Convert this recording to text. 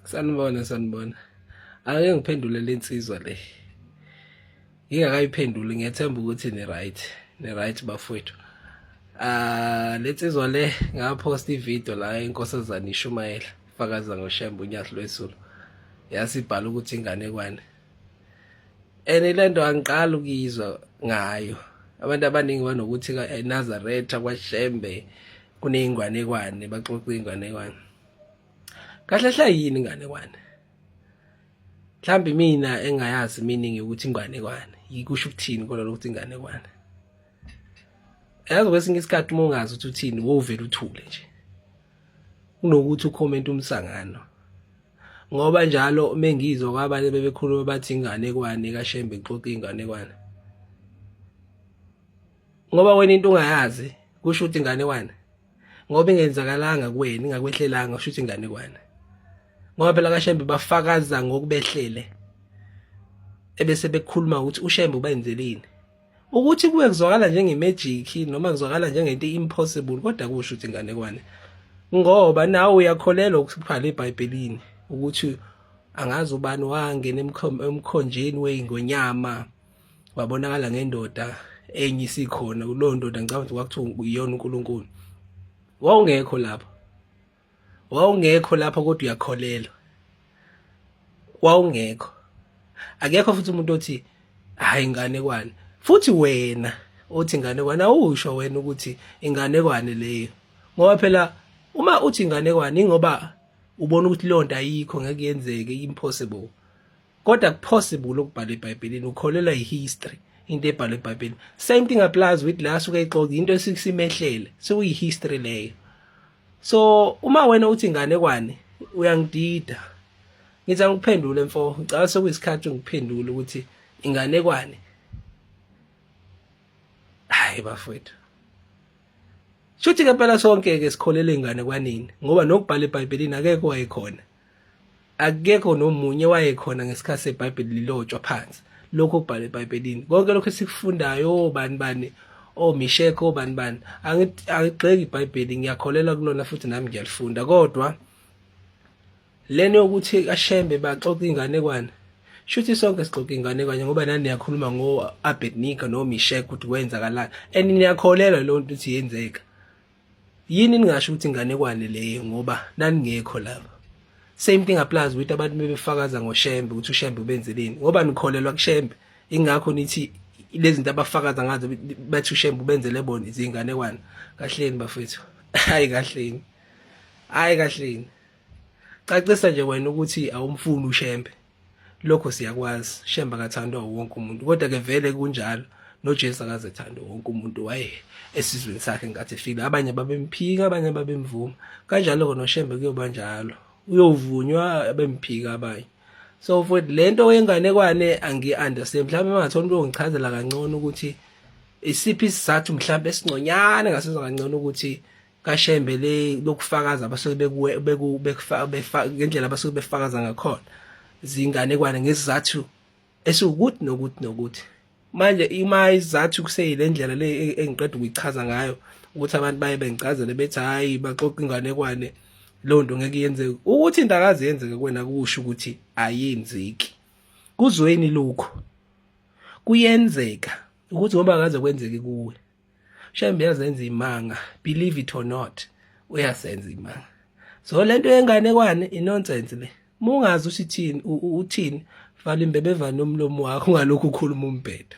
sanibona sanibona ake ngiphendule lensizwa le ngingakayiphenduli ngiyethemba ukuthi ni right ni right bafowethu ah lensizwa le ngapost ivideo la inkosazana ishumayela fakaza ngoshembe unyathi lwesulu yasibhala ukuthi ingane kwane and lento angiqala ukuyizwa ngayo abantu abaningi banokuthi eNazaretha kwaShembe kuneyingwanekwane baxoxa ingwanekwane kahle hle yini inganekwane mhlambe mina engayazi meaning ukuthi inganekwane yikusho ukuthini kona lokuthi inganekwane yazi kwesinye isikhathi uma ungazi ukuthi uthini wovela uthule nje kunokuthi ucomment umsangano ngoba njalo mengizwa kwabanye bebekhuluma bathi inganekwane kashembe ixoxa inganekwane ngoba wena into ungayazi kusho ukuthi inganekwane ngoba ingenzakalanga kuwena ingakwehlelanga usho ukuthi inganekwane ngoba phela kashembe bafakaza ngokubehlele ebese bekhuluma ukuthi ushembe ubenzelini ukuthi kuwe kuzwakala njengemagic noma kuzwakala njengento impossible kodwa kusho ukuthi inganekwane ngoba nawe uyakholelwa ukubhala ebhayibhelini ukuthi angazi ubani wangena emkhonjeni weyingonyama wabonakala ngendoda enye isikhona kulowo ndoda ngicabanga ukuthi kwakuthiwa uyona uNkulunkulu wawungekho lapha wawungekho lapha kodwa uyakholelwa wawungekho akekho futhi umuntu othi hayi inganekwane futhi wena othi inganekwane awusho wena ukuthi inganekwane leyo ngoba phela uma uthi inganekwane ingoba ubona ukuthi leyo nto ayikho ngeke yenzeke impossible kodwa kupossible ukubhala eBhayibhelini ukholelwa yihistory into ebhalwe eBhayibhelini same thing applies with la suke ixoki into esikusimehlele sekuyi history leyo so uma wena uthi ingane kwani uyangidida ngithi angikuphendule mfo ngicela sekuyisikhathi ngikuphendule ukuthi ingane kwani hayi bafowethu Shuthi ke phela sonke ke sikholele ingane kwanini ngoba nokubhala eBhayibhelini akekho wayekhona akekho nomunye wayekhona ngesikhathi sebhayibheli lilotshwa phansi lokho okubhalwe ebhayibhelini konke lokho esikufundayo obani oh, bani omishekho oh, obani oh, bani angigxeki ibhayibheli ngiyakholelwa kulona futhi nami ngiyalifunda kodwa lento yokuthi kashembe baxoxa inganekwane shuthi sonke sixoxa inganekwane ngoba nani niyakhuluma ngo-abednika nomishekho ukuthi kwenzakalani and niyakholelwa leyo nto ukuthi yenzeka yini ningasho ukuthi inganekwane leyo ngoba naningekho lapha same thing applies with abantu bebefakaza ngoshembe ukuthi ushembe ubenzeleni ngoba nikholelwa kushembe ingakho nithi lezinto abafakaza ngazo bathi ushembe ubenzele bona izinganekwane kahleni bafethu hayi kahleni hayi kahleni cacisa nje wena ukuthi awumfuni ushembe lokho siyakwazi shemba kathandwa wonke umuntu kodwa ke vele kunjalo noJesu akaze thanda wonke umuntu waye esizweni sakhe ngathi fika abanye babemphika abanye babemvuma kanjalo ke noshembe kuyoba njalo uyovunywa abemphika abanye so futhi lento yenganekwane angi-understand mhlawumbe mangathola umuntu ongichazela kangcono ukuthi isiphi isizathu mhlawumbe esingconyane ngasizwa kangcono ukuthi kashembe le lokufakaza abasuke bekuwe beku bekufaka ngendlela abasuke befakaza ngakhona zinganekwane ngesizathu esiwukuthi nokuthi nokuthi manje ima izathu kuseyile ndlela le e-, engiqeda ukuyichaza ngayo ukuthi abantu baye bengicazele bethi hayi baxoxa inganekwane leyo nto ngeke yenzeke ukuthi into akaze yenzeke kwena kusho ukuthi ayenzeki kuzweni lokho kuyenzeka ukuthi ngoba akaze kwenzeke kuwe shembe yazenza imanga believe it or not uyasenza imanga so lento yengane kwane inonsense le mungazi usithini uthini vala imbebevana omlomo wakho ngalokhu ukhuluma umbhedo